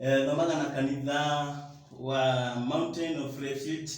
Eh, thomana na kanitha wa Mountain of Refuge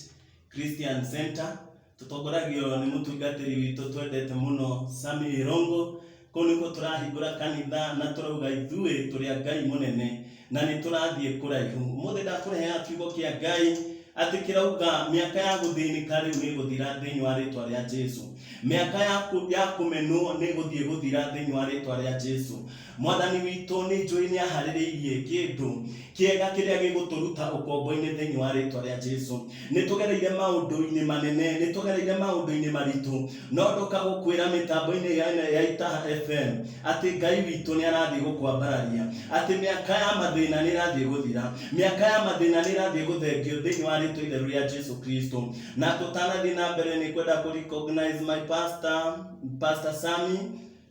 Christian Center tutongoragio nĩ mũtungatĩri witũ twendete mũno Sami Irongo kũu nĩkuo tũrahingũra kanitha na tũrauga ithuĩ tũrĩ a Ngai mũnene na nĩ tũrathiĩ kũraihu ũmũthĩ ndakũreheaga kiugo kĩa Ngai atĩ kĩrauga mĩaka ya gũthĩnĩka rĩu nĩ gũthira thĩinĩ wa rĩtwa rĩa Jesu mĩaka ya, kũ, ya kũmenwo nĩ gũthiĩ gũthira thĩinĩ wa rĩtwa rĩa Jesu Mwathani witũ, nĩ njũĩ nĩ ahaarĩrĩirie kĩndũ kĩega kĩrĩa gĩgũtũruta ũkombo-inĩ thĩinĩ wa rĩĩtwa rĩa Jesu. Nĩ tũgereire maũndũ-inĩ manene, nĩ tũgereire maũndũ-inĩ maritũ, no ndoka gũkwĩra mĩtambo-inĩ ĩno ya Itaha FM atĩ Ngai witũ nĩ arathiĩ gũkwambararia, atĩ mĩaka ya mathĩna nĩ ĩrathiĩ gũthira, mĩaka ya mathĩna nĩ ĩrathiĩ gũthengio thĩinĩ wa rĩĩtwa itheru rĩa Jesu Kristo. Na tũtanathiĩ na mbere nĩ kwenda kũ recognize my pastor, Pastor Sammy,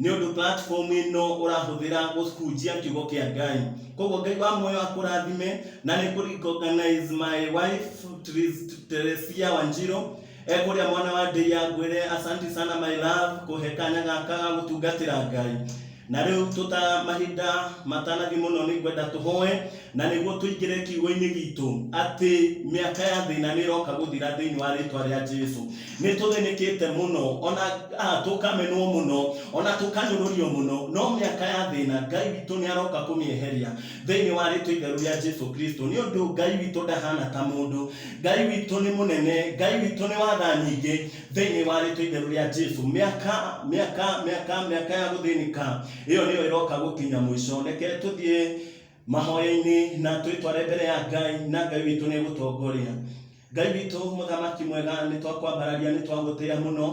Nĩ ũndũ platform ĩno ũrahũthĩra gũkũnjia kiugo kĩa Ngai. Koguo Ngai wa muoyo akũrathime na nĩ kũ recognize my wife Tris- Teresia Wanjiro ekũrĩa mwana wa Ndeia ngwĩre asanti sana my love kũhe kanya gaka ga gũtungatĩra Ngai. Na rĩu tũta mahinda matanathi mũno nĩ ngwenda tũhoe Na nĩguo tũingĩre kiugo-inĩ gitũ atĩ mĩaka ya thĩna nĩ ĩroka gũthira thĩinĩ wa rĩtwa rĩa Jesu. Nĩ tũthĩnĩkĩte mũno, ona ah, tũkamenwo mũno, ona tũkanyũrũrio mũno, no mĩaka ya thĩna Ngai witũ nĩ aroka kũmĩeheria thĩinĩ wa rĩtwa itheru rĩa Jesu Kristo. Nĩ ũndũ Ngai witũ ndahana ta mũndũ. Ngai witũ nĩ mũnene, Ngai witũ nĩ wa tha nyingĩ thĩinĩ wa rĩtwa itheru rĩa Jesu. Mĩaka, mĩaka, mĩaka, mĩaka ya gũthĩnĩka ĩyo nĩyo ĩroka gũkinya mũico. Reke tũthiĩ Mahoya-inĩ na twĩtware mbere ya Ngai na Ngai witũ nĩ egũtongoria. Ngai witũ mũthamaki mwega nĩ twakwambararia nĩ twagũtĩa mũno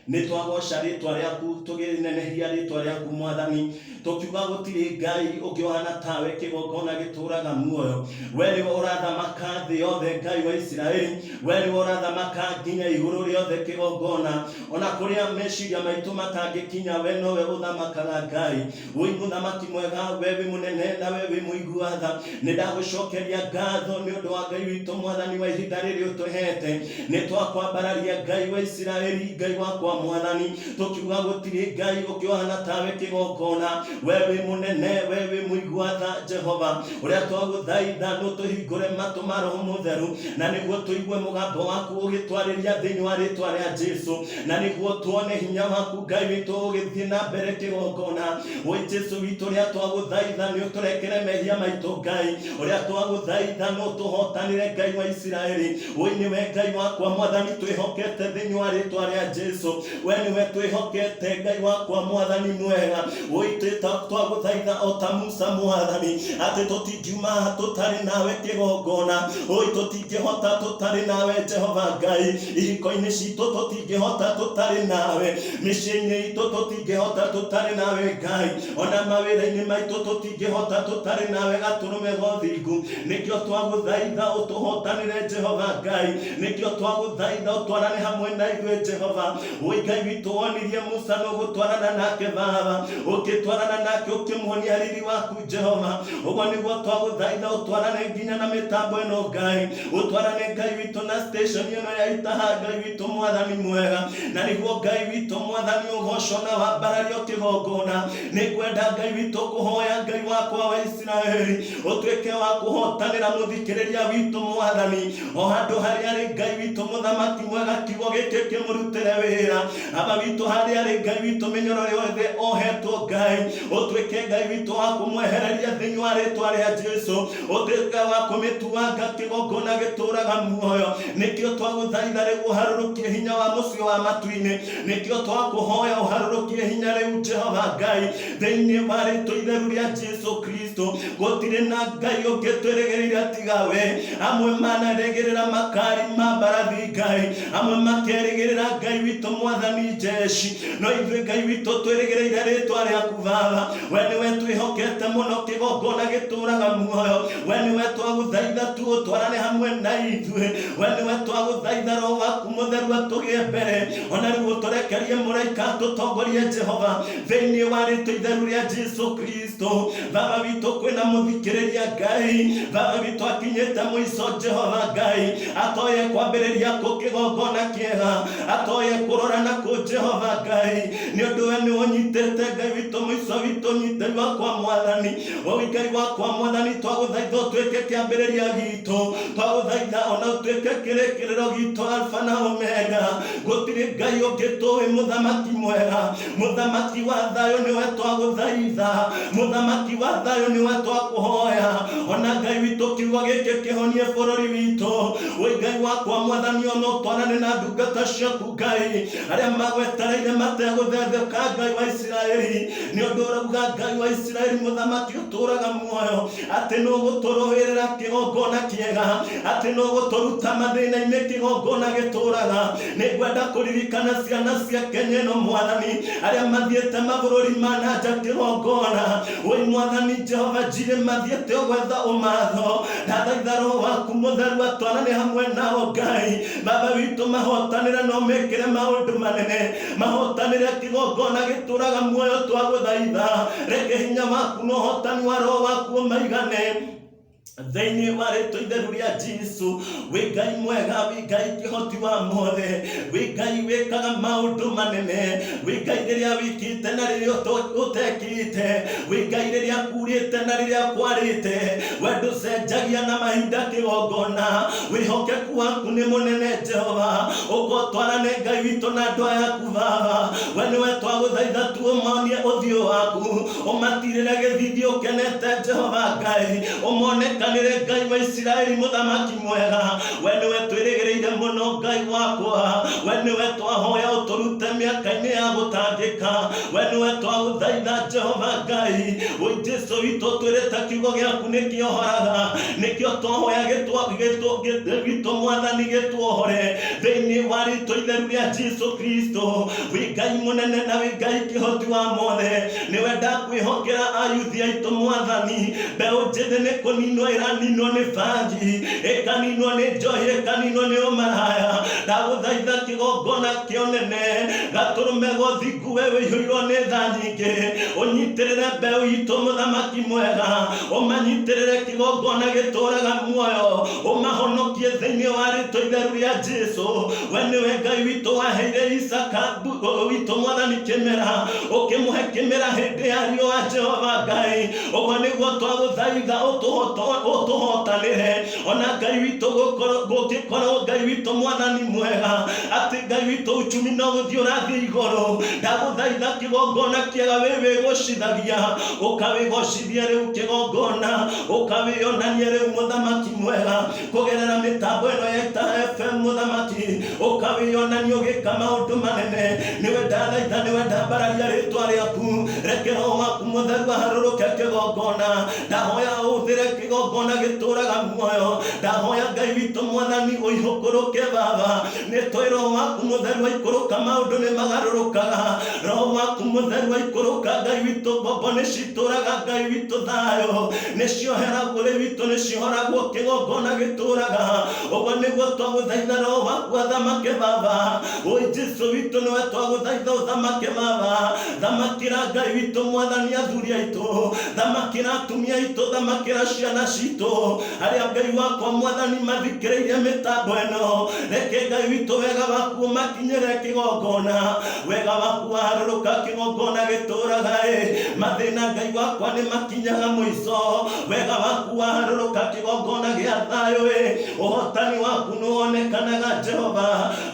nĩ twagoca rĩtwa rĩaku tũgĩnenehia rĩtwa rĩaku mwathani tũkiuga gũtirĩ Ngai ũngĩ ũhana tawe kĩgongona gĩtũraga muoyo we nĩwe ũrathamaka thĩ yothe Ngai wa Isiraeli we nĩwe ũrathamaka nginya igũrũ rĩothe kĩgongona ona kũrĩa meciria maitũ matangĩkinya we nowe ũthamakaga Ngai Wĩ mũthamaki mwega, we wĩ mũnene na we wĩ mũigua tha. Nĩ ndagũcokeria ngatho nĩ ũndũ wa Ngai witũ mwathani wa ihinda rĩrĩ ũtũhete. Nĩ twakwambararia Ngai wa Isiraeli, Ngai wakwa mwathani, tũkiuga gũtirĩ Ngai ũngĩ ũhana tawe kĩgongona. We wĩ mũnene, we wĩ mũigua tha, Jehova, ũrĩa twagũthaitha nũtũhingũre matũ ma Roho Mũtheru, na nĩguo tũigue mũgambo waku ũgĩtwarĩria thĩinĩ wa rĩtwa rĩa Jesu. na nĩguo tuone hinya waku ngai witũ ũgĩthiĩ na mbere kĩgongona we jesu witũ ũrĩa twagũthaitha nĩ ũtũrekere mehia maitũ ngai ũrĩa twagũthaitha nĩ ũtũhotanĩre ngai wa isiraeli we nĩwe ngai wakwa mwathani twĩhokete thĩinĩ wa rĩtwa rĩa jesu we nĩwe twĩhokete ngai wakwa mwathani mwega we twagũthaitha o ta musa mwathani atĩ tũtingiuma tũtarĩ nawe kĩgongona ũi tũtingĩhota tũtarĩ nawe jehova ngai ihiko-inĩ citũ tũtingĩhota tũtarĩ nawe mĩciĩ-inĩ itũ tũtingĩhota tũtarĩ nawe ngai ona mawĩra-inĩ maitũ tũtingĩhota tũtarĩ nawe gatũrũme gothingu nĩkĩo twagũthaitha ũtũhotanĩre jehova ngai nĩkĩo twagũthaitha ũtwarane hamwe na ithuĩ jehova wĩ ngai witũ wonirie musa nĩ ũgũtwarana nake baba ũkĩtwarana nake ũkĩmuonia riri waku jehova ũguo nĩguo twagũthaitha ũtwarane nginya na mĩtambo ĩno ngai gũtwara nĩ ngai witũ na station ĩno ya itaha ngai witũ mwathani mwega na nĩguo ngai witũ mwathani ũgoco na wambarario kĩgongona nĩ kwenda ngai witũ kũhoya ngai wakwa wa isiraeli ũtuĩke wa kũhotanĩra mũthikĩrĩria witũ mwathani o handũ harĩa arĩ ngai witũ mũthamaki mwega kiugo gĩkĩ kĩmũrutĩre wĩra aba witũ harĩa arĩ ngai witũ mĩnyoro yothe ohetwo ngai ũtuĩke ngai witũ wa kũmwehereria thĩinĩ wa rĩtwa rĩa jesu ũtuĩke wa kũmĩtuanga kĩgongona gĩtũũraga muoyo. Nĩkĩo twagũthaitha rĩu ũharũrũkie hinya wa mũciĩ wa matu-inĩ. Nĩkĩo twakũhoya ũharũrũkie hinya rĩu, Jehova Ngai, thĩinĩ wa rĩtwa itheru rĩa Jesu Kristo. Gũtirĩ na Ngai ũngĩ twĩrĩgĩrĩire tiga we. Amwe manerĩgĩrĩra makari ma mbarathi, Ngai. Amwe makerĩgĩrĩra Ngai witũ Mwathani Jeshi. no ithuĩ ngai witũ twĩrĩgĩrĩire rĩtwa rĩaku baba we nĩwe twĩhokete mũno kĩgongona gĩtũraga muoyo we nĩwe twagũthaitha tu ũtwarane hamwe na ithuĩ we nĩwe twagũthaitha roho waku mũtheru atũgĩe mbere ona rĩu ũtũrekerie mũraika atũtongorie jehova thĩinĩ wa rĩtwa itheru rĩa jesu kristo kristo baba bitũ kwĩna mũthikĩrĩria ngai baba bitũ akinyĩte mũico jehova ngai atoye kwambĩrĩria kũ kĩgongona kĩega atoye kũrora na kũ jehova ngai nĩ ũndũ we nĩ ũnyitĩte ngai witũ mũico witũ nyitĩri wakwa mwathani ũwi ngai wakwa mwathani twagũthaitha ũtuĩke kĩambĩrĩria gitũ twagũthaitha ona ũtuĩke kĩrĩkĩrĩro gitũ alfa na omega gũtirĩ ngai ũngĩ tũĩ mũthamaki mwega Mũthamaki wa thayũ nĩwe twagũthaitha, mũthamaki wa thayũ nĩwe twakũhoya, ona Ngai witũ kiugo gĩkĩ kĩhonie bũrũri witũ. Wĩ Ngai wakwa mwathani, ona ũtwarane na ndungata ciaku Ngai, arĩa magwetereire mategũthethũka, Ngai wa Isiraeli, nĩ ũndũ ũrauga, Ngai wa Isiraeli mũthamaki ũtũũraga muoyo. atĩ nĩ ũgũtũrũĩrĩra kĩgongona kĩega atĩ nĩ ũgũtũruta mathĩna-inĩ kĩgongona gĩtũraga nĩ ngwenda kũririkana ciana cia kenya ĩno mwathani arĩa mathiĩte mabũrũri ma na nja kĩgongona wĩ mwathani jehova njirĩ mathiĩte ũgwetha ũmatho ndathaitha roho waku mũtheru atwarane hamwe nao ngai baba witũ mahotanĩre no mekĩre maũndũ manene mahotanĩre kĩgongona gĩtũraga muoyo twagũthaitha reke hinya waku na ũhotani wa roho waku ũmaigane thĩinĩ wa rĩtwa itheru rĩa jesu wĩ ngai mwega wĩ ngai kĩhoti wa mothe wĩ ngai wĩkaga maũndũ manene wĩ ngai rĩrĩa wĩkĩte na rĩrĩa ũtekĩte ĩte wĩ ngai rĩrĩa kurĩte na rĩrĩa kwarĩte we ndũcenjagia na mahinda kĩgongona wĩhokeku waku nĩ mũnene jehova ũkotwarane ngai witũ na andũ aya aku baba we nĩwe twagũthaitha tuomonie ũthiũ waku ũmatirĩre gĩthithi ũkenete jehova ngai ũmonekanĩre ngai wa isiraeli mũthamaki mwega we nĩwe twĩrĩgĩrĩire mũno ngai wakwa we nĩwe twahoya ũtũrute mĩaka-inĩ ya gũtangĩka we nĩwe twagũthaitha jehova ngai wĩ jesu witũ twĩrĩte kiugo gĩaku nĩkĩohoraga nĩkĩo twahoya gĩtwa- gĩtũ- gĩtũ- witũ mwathani gĩtuohore thĩinĩ wa rĩtwa itheru rĩa jesu kristo wĩ ngai mũnene na wĩ ngai kĩhoti wa mothe nĩwe ndakwĩhokera ayuthi aitũ mwathani mbeũ njĩthĩ nĩ kũninwo ĩraninwo nĩ bangi ĩkaninwo nĩ njohi ĩkaninwo nĩ ũmaraya ndagũthaitha kĩgongona kĩa ũnene gatũrũme gothingu we wĩihũirwo nĩ tha nyingĩ ũnyitĩrĩre mbeũ itũ mũthamaki mwega ũmanyitĩrĩre kĩgongona gĩtũraga muoyo ũmahonokie thĩinĩ wa rĩtwa itheru rĩa jesu we nĩwe ngai witũ waheire isaka mbũgũ witũ mwathani kĩmera ũkĩmũhe kĩmera hĩndĩ ya riũa jehova ngai ũguo nĩguo twagũthaitha ũtũhoto- ũtũhotanĩre ona ngai witũ gũkorwo- gũngĩkorwo ngai witũ mwathani mwega atĩ ngai witũ uchumi no gũthiĩ ũrathiĩ igũrũ ndagũthaitha kĩgongona kĩega wĩ wĩgocithagia ũkawĩgocithia rĩu kĩgongona ũkawĩonania rĩu mũthamaki mwega kũgerera mĩtambo ĩno ya Ita FM mũthamaki ũkawĩonania ũgĩka maũndũ manene nĩwe ndathaitha nĩwe ndambararia rĩtwa rĩaku reke roho waku mũtheru aharũrũke kĩgongona ndahoya ũhũthĩre kĩgongona gĩtũraga muoyo ndahoya ngai witũ mwathani ũihũkũrũke baba nĩ tũĩ roho waku mũtheru waikũrũka maũndũ nĩ magarũrũkaga roho waku mũtheru waikũrũka ngai witũ ngombo nĩ ci itũraga ngai witũ thayũ nĩcio hera kũrĩ witũ nĩcihoragwo kĩgongona gĩtũraga ũguo nĩguo twagũthaitha roho waku athamake baba ũi jesu witũ nĩwe twagũthaitha ũthamake baba thamakĩra ngai witũ mwathani athuri aitũ thamakĩra atumia aitũ thamakĩra ciana citũ arĩa ngai wakwa mwathani mathikĩrĩirie mĩtambo ĩno reke ngai witũ wega waku ũmakinyĩre kĩgongona wega waku waharũrũka kĩgongona gĩtũũraga ĩ mathĩna ngai wakwa nĩ makinyaga mũico wega waku waharũrũka kĩgongona gĩa thayũ ĩ ũhotani waku nĩwonekanaga jehova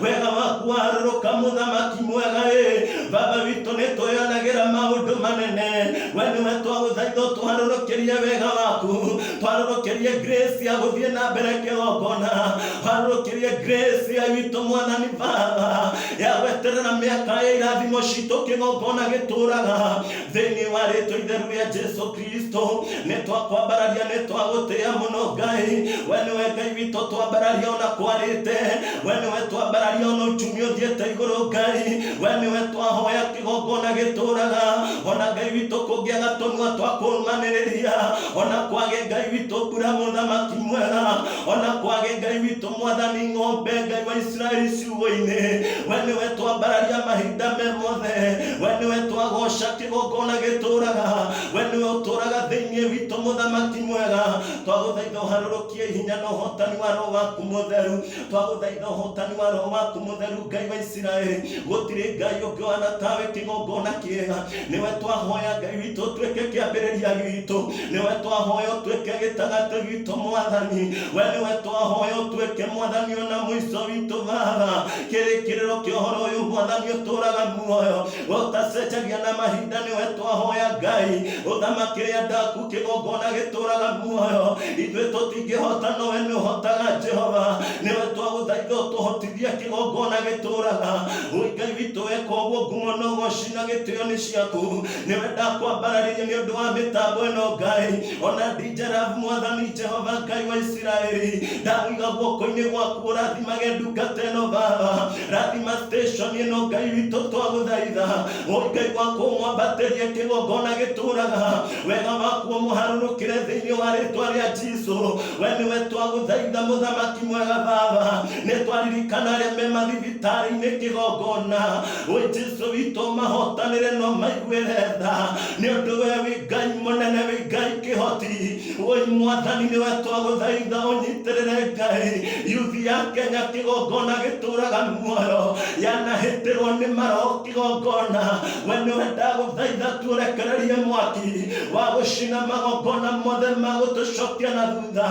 wega waku waharũrũka mũthamaki mwega ĩ baba witũ nĩ twĩyanagĩra maũndũ manene we nĩwe twagũthaitha tũharũrũkĩrie wega waku twarũrũkĩrie grace ya gũthiĩ na mbere kĩgongona harũrũkĩrie grace ya witũ mwathani baba yagweterera mĩaka ya irathimo citũ kĩgongona gĩtũraga thĩinĩ wa rĩtwa itheru rĩa jesu kristo nĩ twakwambararia nĩ twagũtĩa mũno ngai we nĩwe ngai witũ twambararia ona kwarĩte we nĩwe twambararia ona uchumi ũthiĩte igũrũ ngai we nĩwe twahoya kĩgongona gĩtũraga ona ngai witũ kũngĩaga tũnua twakũmanĩrĩria ona kwage ngai witũ mbura mũthamaki mwega ona kwage ngai witũ mwathani ng'ombe ngai wa isiraeli ciugo-inĩ we nĩwe twambararia mahinda me mothe we nĩwe twagoca kĩgongona gĩtũraga we nĩwe ũtũraga thĩinĩ witũ mũthamaki mwega twagũthaitha ũharũrũkie hinya na ũhotani wa roho waku mũtheru twagũthaitha ũhotani wa roho waku mũtheru ngai wa isiraeli gũtirĩ ngai ũngĩ wana tawe kĩgongona kĩega nĩwe twahoya ngai witũ tuĩke kĩambĩrĩria gitũ Nĩwe twahoya ũtuĩke gĩtagatĩ gitũ mwathani, we nĩwe twahoya ũtuĩke mwathani ona mũico witũ Baba. Kĩrĩkĩrĩro kĩa ũhoro ũyũ mwathani ũtũraga muoyo, ũtacenjagia na mahinda, nĩwe twahoya Ngai ũthamakĩre andũ aku kĩgongona gĩtũraga muoyo. Ithuĩ tũtingĩhota, nowe nĩ ũhotaga Jehova, nĩwe twagũthaitha ũtũhotithie kĩgongona gĩtũraga. Wĩ Ngai witũ weka ũguo, ngumo na ũgoci na gĩtĩo nĩ ciaku. nĩwe ndakwambararirie nĩ ũndũ wa mĩtambo ĩno ngai ona ndinjarabu mwathani jehova ngai wa isiraeli ndamũiga guoko-inĩ gwaku ũrathimage ndungata ĩno baba rathima station ĩno ngai witũ twagũthaitha ũi ngai gwaku ũmwambatĩrie kĩgongona gĩtũraga wega waku ũmũharũrũkĩre thĩinĩ wa rĩtwa rĩa jesu we nĩwe twagũthaitha mũthamaki mwega baba nĩ twaririkana arĩa me mathibitarĩ-inĩ kĩgongona Wĩ Jesu witũ mahotanĩre no maiguĩre tha nĩ ũndũ we wĩ Ngai mũnene wĩ Ngai kĩhoti wĩ mwathani nĩwe twagũthaitha ũnyitĩrĩre Ngai yuthi ya Kenya kĩgongona gĩtũraga muoyo yanahĩtĩrwo nĩ maro kĩgongona we nĩwe ndagũthaitha tuorekererie mwaki wa gũcina magongona mothe ma gũtũcokia na thutha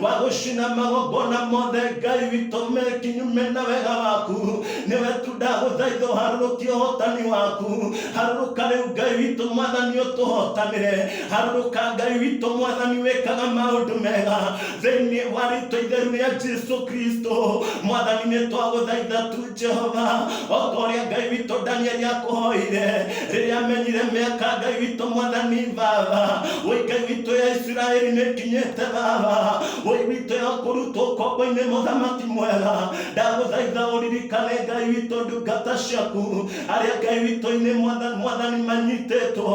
wa gũcina magongona mothe Ngai witũ mekinyu mena wega waku nĩwe tu ndagũthaitha ũharũrũkie ũhotani waku harũrũka rĩu ngai witũ mwathani ũtũhotanĩre harũrũka ngai witũ mwathani wĩkaga maũndũ mega thĩinĩ wa rĩtwa itheru rĩa jesu kristo mwathani nĩ twagũthaitha tu jehova okorĩa ngai witũ danieli akũhoire rĩrĩa amenyire mĩaka ngai witũ mwathani baba wĩ ngai witũ ya isiraeli nĩkinyĩte baba wĩ witũ ya kũrutwo kombo-inĩ mũthamaki mwega ndagũthaitha ũririkane ngai witũ ndungata ciaku arĩa ngai witũ-inĩ mwatha- mwathani manyitĩtwo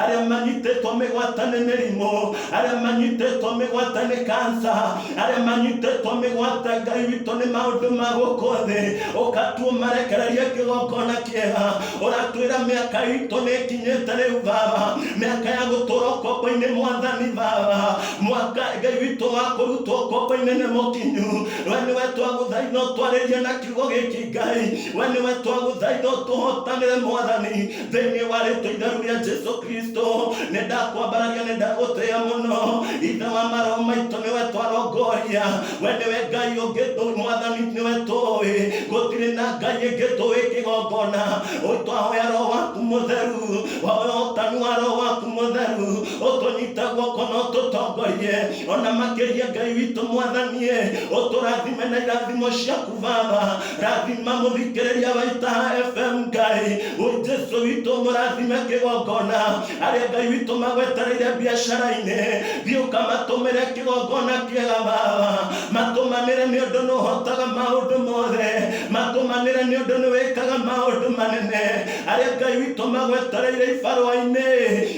arĩa manyitĩtwo mĩgwate nĩ mĩrimũ arĩa manyitĩtwo mĩgwate nĩ kansa arĩa manyitĩtwo mĩgwate ngai witũ nĩ maũndũ ma gũkũ thĩ ũkatuo marekererie kĩgongona kĩega ũratwĩra mĩaka itũ nĩ ĩkinyĩte rĩu baba mĩaka ya gũtũra ũkombo-inĩ mwathani baba mwaka ngai witũ wa kũrutwo ũkombo-inĩ nĩ mũkinyu we nĩwe twagũthaitha ũtwarĩrie na kiugo gĩkĩ ngai we nĩwe twagũthaitha ũtũhotanĩre mwathani thĩinĩ wa rĩtwa itheru rĩa jesu kristo nĩ ndakwambararia nĩ ndagũtĩa mũno ithe wa maro maitũ nĩwe twarongoria we nĩwe ngai ũngĩ tũ- mwathani nĩwe tũĩ gũtirĩ na ngai ĩngĩ tũĩ kĩgongona ũyũ twahoya roho waku mũtheru wawe ũtanu wa roho waku mũtheru ũtũnyita guoko na ũtũtongorie ona makĩria ngai witũ mwathanie ũtũrathime na irathimo ciaku baba rathima mũthikĩrĩria wa itaha fm ngai ũ jesu witũ mũrathime kĩgongona arĩa ngai witũ magwetereire biacara-inĩ thiĩ ũkamatũmĩre kĩgongona kĩega baba matũmanĩre nĩ ũndũ nĩ ũhotaga maũndũ mothe matũmanĩre nĩ ũndũ nĩ wĩkaga maũndũ manene arĩa ngai witũ magwetereire ibarũa-inĩ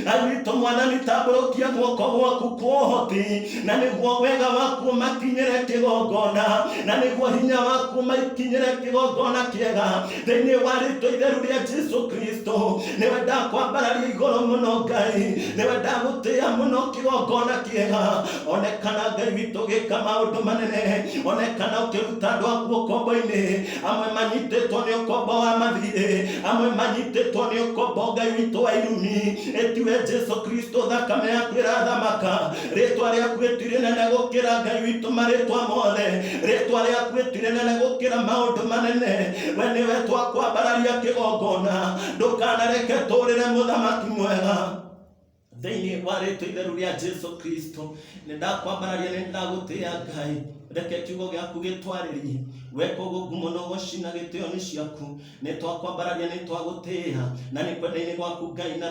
ngai witũ mwana nitambũrũkia guoko gwaku kwa ũhoti na nĩguo wega waku makinyĩre kĩgongona na nĩguo hinya waku maikinyĩre kĩgongona kĩega thĩinĩ wa rĩtwa itheru rĩa jesu kristo nĩwe ndakwambararia igũrũ mũno ngai nĩwe ndagũtĩa mũno kĩgongona kĩega onekana ngai witũ gĩka maũndũ manene onekana ũkĩruta andũ aku ũkombo-inĩ amwe manyitĩtwo nĩ ũkombo wa mathirĩ amwe manyitĩtwo nĩ ũkombo ngai witũ wa irumi ĩtiwe jesu kristo thakame yaku ĩrathamaka rĩtwa rĩaku ĩtirinene gũkĩra ngai witũ marĩtwa mothe rĩtwa rĩaku ĩtirinene gũkĩra maũndũ manene we nĩwe twakwambararia kĩgongona ndũkanareke tũrĩre mũthamaki mwega thĩinĩ wa rĩtwa itheru rĩa jesu kristo nĩ ndakwambararia nĩ ndagũtĩa ngai reke kiugo gĩaku gĩtwarĩrie weka ũguo ngumo na ũgocina gĩtĩo nĩ ciaku nĩ twakwambararia nĩ twagũtĩa na nĩ kwenda-inĩ gwaku ngai na